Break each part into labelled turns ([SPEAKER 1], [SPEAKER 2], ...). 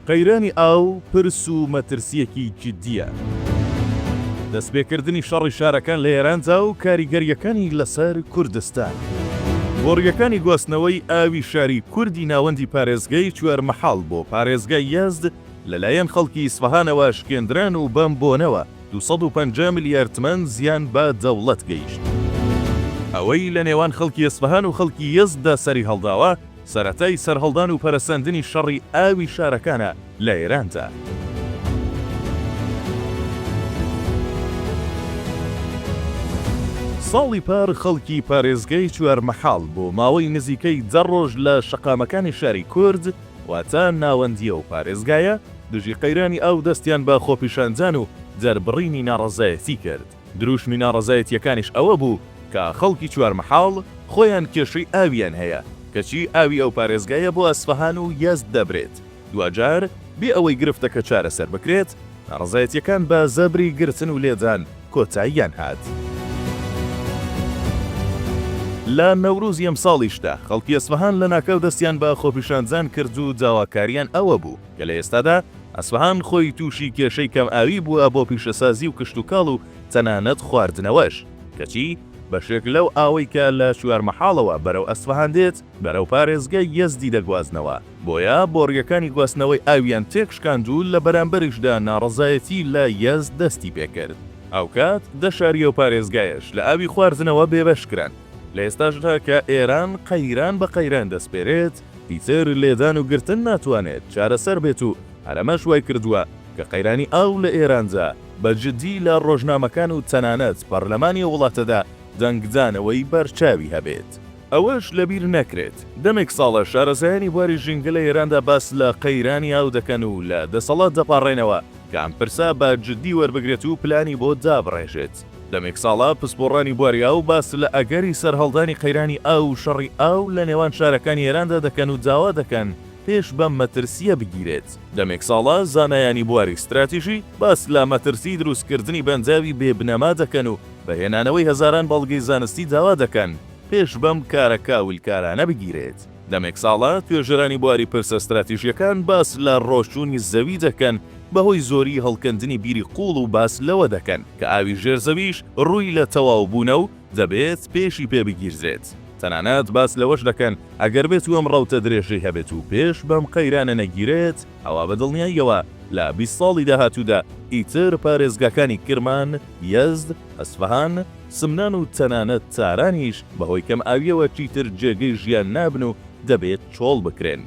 [SPEAKER 1] قەیرانی ئاو پرس و مەترسییەکی جددییە. دەستپێکردنی شەڕی شارەکان لە ئێراندا و کاریگەرییەکانی لەسەر کوردستان. بۆڕییەکانی گواستنەوەی ئاوی شاری کوردی ناوەندی پارێزگای چوارمەحاڵ بۆ پارێزگای یەزد لەلایەن خەڵکی ئیسفەهانەوە شکێندران و بەم بۆنەوە دوو سەد و پەنجا ملیار تمەن زیان بە دەوڵەت گەیشت. ئەوەی لە نێوان خەڵکی ئیسفەهان و خەڵکی یەزددا سەریهەڵداوە، سەرەتای سەرهەڵدان و پەرەسەندنی شەڕی ئاوی شارەکانە لە ئێراندا. ساڵی پار خەڵکی پارێزگای چوارمەحاڵ بۆ ماوەی نزیکەی دە ڕۆژ لە شەقامەکانی شاری کورد واتە ناوەندیی ئەو پارێزگایە دژی قەیرانی ئاو دەستیان بە خۆپیشاندان و دەربڕینی ناڕەزایەتی کرد. دروشمی ناڕەزایەتییەکانیش ئەوە بوو کە خەڵکی چوارمەحاڵ خۆیان کێشەی ئاویان هەیە، کەچی ئاوی ئەو پارێزگایە بۆ ئەسفەهان و یەزد دەبرێت، دواجار بێ ئەوەی گرفتەکە چارەسەر بکرێت، ناڕەزایەتییەکان بە زەبری گرتن و لێدان کۆتاییان هات. لە نەورۆزی ئەمساڵیشدا خەڵکی ئەسفەهان لەناکاو دەستیان بە خۆپیشاندان کرد و داواکارییان ئەوە بوو، کە لە ئێستادا ئەسفەهان خۆی تووشی کێشەی کەمئاوی بووە بۆ پیشەسازی و کشتوکاڵ و تەنانەت خواردنەوەش، کەچی بەشێک لەو ئاوەی کە لە چوارمەحاڵەوە بەرەو ئەسفەهان دێت، بەرەو پارێزگای یەزدی دەگوازنەوە، بۆیە بۆڕییەکانی گواستنەوەی ئاویان تێکشکاند و لە بەرامبەریشدا ناڕەزایەتی لە یەزد دەستی پێکرد، هاوکات دە شاری ئەو پارێزگایەش لە ئاوی خواردنەوە بێبەش کران، لە ئێستاشدا کە ئێران قەیران بە قەیران دەسپێرێت، ئیتر لێدان و گرتن ناتوانێت چارەسەر بێت و هەر ئەمەش وای کردووە کە قەیرانی ئاو لە ئێراندا بە جددی لە ڕۆژنامەکان و تەنانەت پەرلەمانی وڵاتەدا دەنگدانەوەی بەرچاوی هەبێت. ئەوەش لەبیر نەکرێت دەمێک ساڵە شارەزایانی بواری ژینگە لە ئێراندا باس لە قەیرانی ئاو دەکەن و لە دەسەڵات دەپاڕێنەوە کە ئەم پرسە بە جددی وەربگرێت و پلانی بۆ دابڕێژێت. دەمێک ساڵە پسپۆڕانی بواری ئاو باس لە ئەگەری سەرهەڵدانی قەیرانی ئاو و شەڕی ئاو لە نێوان شارەکانی ئێراندا دەکەن و داوا دەکەن پێش بەم مەترسییە بگیرێت. دەمێک ساڵە زانایانی بواری ستراتیژی باس لە مەترسیی دروستکردنی بەنداوی بێ بنەما دەکەن و بە هێنانەوەی هەزاران بەڵگەی زانستی داوا دەکەن پێش بەم کارە کاولکارانە بگیرێت. دەمێک ساڵە توێژەرانی بواری پرسە ستراتیژییەکان باس لە ڕۆچوونی زەوی دەکەن بەهۆی زۆریی هەڵکەندنی بیری قووڵ و باس لەوە دەکەن کە ئاوی ژێر زەویش ڕووی لە تەواوبوونە و دەبێت پێشی پێ بگیردرێت. تەنانەت باس لەوەش دەکەن ئەگەر بێتوو ئەم ڕەوتە درێژەی هەبێت و پێش بەم قەیرانە نەگیرێت ئەوا بە دڵنیاییەوە لە بیست ساڵی داهاتوودا ئیتر پارێزگاکانی کرمان، یەزد، ئەسفەهان، سمنان و تەنانەت تارانیش بەهۆی کەمئاوییەوە چیتر جێگەی ژیان نابن و دەبێت چۆڵ بکرێن.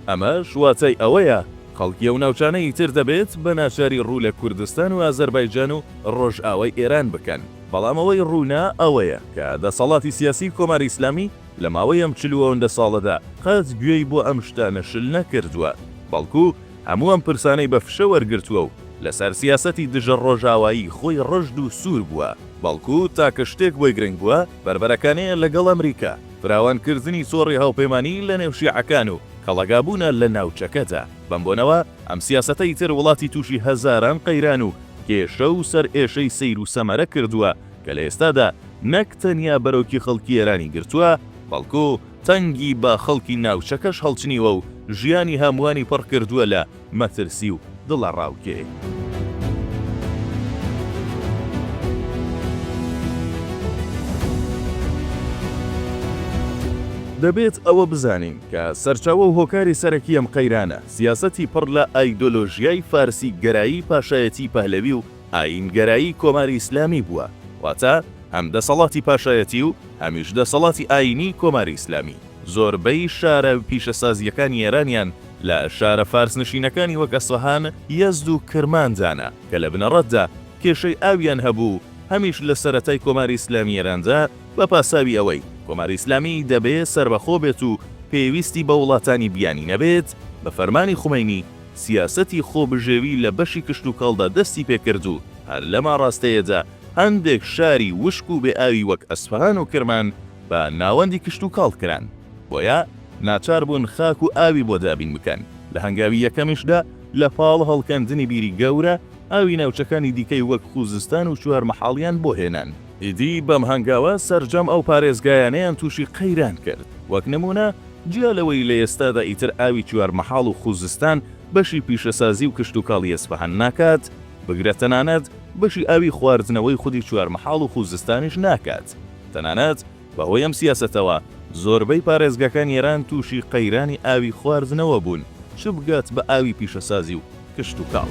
[SPEAKER 1] ئەمەش واتای ئەوەیە خەڵکی ئەو ناوچانە ئیتر دەبێت بە ناچاری ڕوو لە کوردستان و ئازەربایجان و ڕۆژئاوای ئێران بکەن. بەڵام ئەوەی ڕوونە ئەوەیە کە دەسەڵاتی سیاسیی کۆماری ئیسلامی لە ماوەی ئەم چل و ئەوەندە ساڵەدا قەت گوێی بۆ ئەم شتانە شل نەکردووە، بەڵکوو، هەموو ئەم پرسانەی بە فشە وەرگرتووە و لەسەر سیاسەتی دژە ڕۆژاوایی خۆی ڕژد و سوور بووە، بەڵکو تاکە شتێک بۆی گرنگ بووە بەربەرەکانێ لەگەڵ ئەمریکا، فراوانکردنی تۆڕی هاوپەیمانی لەنێو شیعەکان و کەڵەگابوونە لە ناوچەکەدا. بەم بۆنەوە ئەم سیاسەتە ئیتر وڵاتی تووشی هەزاران قەیران و کێشە و سەرئێشەی سەیر و سەمەرە کردووە کە لە ئێستادا نەک تەنیا بەرۆکی خەڵکی ئێرانی گرتووە، بەڵکو تەنگی بە خەڵکی ناوچەکەش هەڵچنیوە و ژیانی هەمووانی پڕ کردووە لە مەترسی و دڵەڕاوکێ. دەبێت ئەوە بزانین کە سەرچاوە و هۆکاری سەرەکی ئەم قەیرانە، سیاسەتی پڕ لە ئایدۆلۆژیای فارسی گەرایی پاشایەتیی پەهلەوی و، ئایینگەرایی کۆماری ئیسلامی بووە، واتە هەم دەسەڵاتی پاشایەتی و هەمیش دەسەڵاتی ئایینیی کۆماری ئیسلامی. زۆربەی شارە پیشەسازییەکانی ئێرانیان لە شارە فارسنشینەکانی وەک ئەسفەهان، یەزد و کرمان دانا کە لە بنەڕەتدا کێشەی ئاویان هەبوو و هەمیش لە سەرەتای کۆماری ئیسلامی ئێراندا بە پاساوی ئەوەی کۆماری ئیسلامی دەبێ سەربەخۆ بێت و پێویستی بە وڵاتانی بیانی نەبێت بە فەرمانی خومەینی سیاسەتی خۆبژێوی لە بەشی کشتوکاڵدا دەستی پێکرد و هەر لەم ئاڕاستەیەدا هەندێک شاری وشک و بێ ئاوی وەک ئەسفەهان و کرمان بە ناوەندی کشتوکاڵ کران، بۆیە ناچار بوون خاک و ئاوی بۆ دابین بکەن، لە هەنگاوی یەکەمیشدا لە پاڵ هەڵکەندنی بیری گەورە، ئاوی ناوچەکانی دیکەی وەک خووزستان و چوارمەحاڵیان بۆ هێنان. ئیدی بەم هەنگاوە سەرجەم ئەو پارێزگایانەیان تووشی قەیران کرد، وەک نموونە جیا لەوەی لە ئێستادا ئیتر ئاوی چوارمەحاڵ و خووزستان بەشی پیشەسازی و کشتوکاڵی ئەسفەهان ناکات، بگرە تەنانەت بەشی ئاوی خواردنەوەی خودی چوارمەحاڵ و خووزستانیش ناکات، تەنانەت بەهۆی ئەم سیاسەتەوە زۆربەی پارێزگاکانی ئێران تووشی قەیرانی ئاوی خواردنەوە بوون، چ بگات بە ئاوی پیشەسازی و کشتوکاڵ.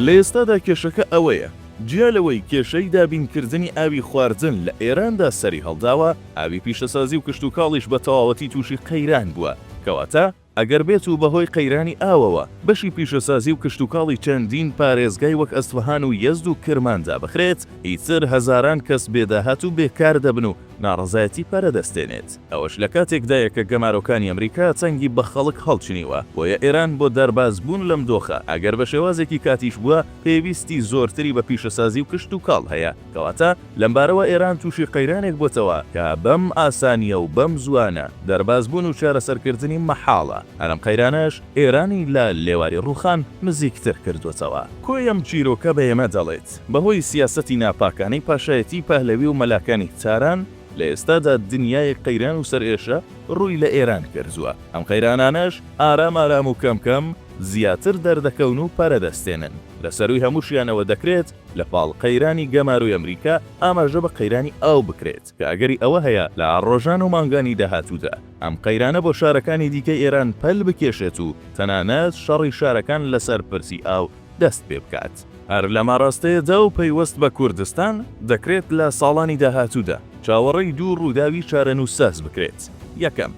[SPEAKER 1] لە ئێستادا کێشەکە ئەوەیە، جیا لەوەی کێشەی دابینکردنی ئاوی خواردن لە ئێراندا سەریهەڵداوە، ئاوی پیشەسازی و کشتوکاڵیش بە تەواوەتی تووشی قەیران بووە، کەواتە ئەگەر بێت و بەهۆی قەیرانی ئاوەوە بەشی پیشەسازی و کشتوکاڵی چەندین پارێزگای وەک ئەسفەهان و یەزد و کرمان دابخرێت، ئیتر هەزاران کەس بێداهات و بێکار دەبن و ناڕەزایەتی پەرە دەستێنێت. ئەوەش لە کاتێکدایە کە گەمارۆکانی ئەمریکا چنگی بە خەڵک هەڵچنیوە، بۆیە ئێران بۆ دەربازبوون لەم دۆخە، ئەگەر بە شێوازێکی کاتیش بووە، پێویستی زۆرتری بە پیشەسازی و کشتوکاڵ هەیە، کەواتە لەمبارەوە ئێران تووشی قەیرانێک بۆتەوە کە بەم ئاسانییە و بەم زووانە دەربازبوون و چارەسەرکردنی مەحاڵە، هەر ئەم قەیرانەش ئێرانی لە لێواری ڕووخان نزیکتر کردووەتەوە. کۆی ئەم چیرۆکە بە ئێمە دەڵێت، بەهۆی سیاسەتی ناپاکانەی پاشایەتیی پەهلەوی و مەلاکانی تاران، لە ئێستادا دنیایەک قەیران و سەرئێشە ڕووی لە ئێران کردووە، ئەم قەیرانانەش ئارام ئارام و کەم کەم زیاتر دەردەکەون و پەرە دەستێنن، لە سەرووی هەمووشیانەوە دەکرێت لە پاڵ قەیرانی گەمارۆی ئەمریکا ئاماژە بە قەیرانی ئاو بکرێت کە ئەگەری ئەوە هەیە لە ڕۆژان و مانگانی داهاتوودا ئەم قەیرانە بۆ شارەکانی دیکەی ئێران پەل بکێشێت و تەنانەت شەڕی شارەکان لەسەر پرسی ئاو دەست پێ بکات. هەر لەم ئاراستەیەدا و پەیوەست بە کوردستان، دەکرێت لە ساڵانی داهاتوودا چاوەڕێی دوو ڕووداوی چارەنووسساز بکرێت، یەکەم،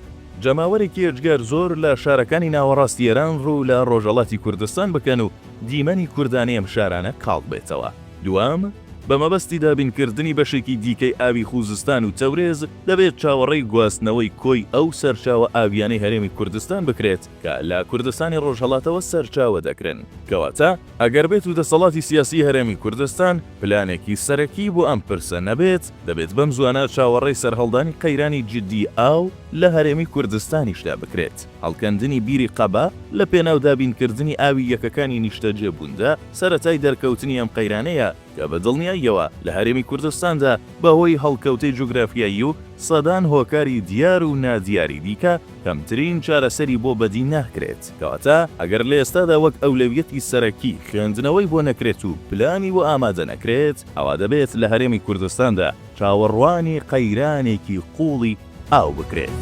[SPEAKER 1] جەماوەرێکی ئێجگار زۆر لە شارەکانی ناوەڕاستی ئێران ڕوو لە ڕۆژەڵاتی کوردستان بکەن و دیمەنی کوردانی ئەم شارانە کاڵ بێتەوە، دووەم، بە مەبەستی دابینکردنی بەشێکی دیکەی ئاوی خووزستان و تەورێز، دەبێت چاوەڕێی گواستنەوەی کۆی ئەو سەرچاوە ئاوییانەی هەرێمی کوردستان بکرێت، کە لە کوردستانی ڕۆژهەڵاتەوە سەرچاوە دەگرن، کەواتە ئەگەر بێت و دەسەڵاتی سیاسی هەرێمی کوردستان پلانێکی سەرەکی بۆ ئەم پرسە نەبێت، دەبێت بەم زوانە چاوەڕێی سەرهەڵدانی قەیرانی جیددی ئاو لە هەرێمی کوردستانیشدا بکرێت، هەڵکەندنی بیری قەبا لە پێناو دابینکردنی ئاوی یەکەکانی نیشتەجێبووندا سەرەتای دەرکەوتنی ئەم قەیرانەیە، کە بە دڵنیاییەوە لە هەرێمی کوردستاندا بە هۆی هەڵکەوتەی جوگرافیایی و سەدان هۆکاری دیار و نادیاری دیکە کەمترین چارەسەری بۆ بەدی ناکرێت، کەواتە ئەگەر لە ئێستادا وەک ئەولەویەتی سەرەکی خوێندنەوەی بۆ نەکرێت و پلانی بۆ ئامادە نەکرێت، ئەوا دەبێت لە هەرێمی کوردستاندا چاوەڕوانی قەیرانێکی قووڵی ئاو بکرێت.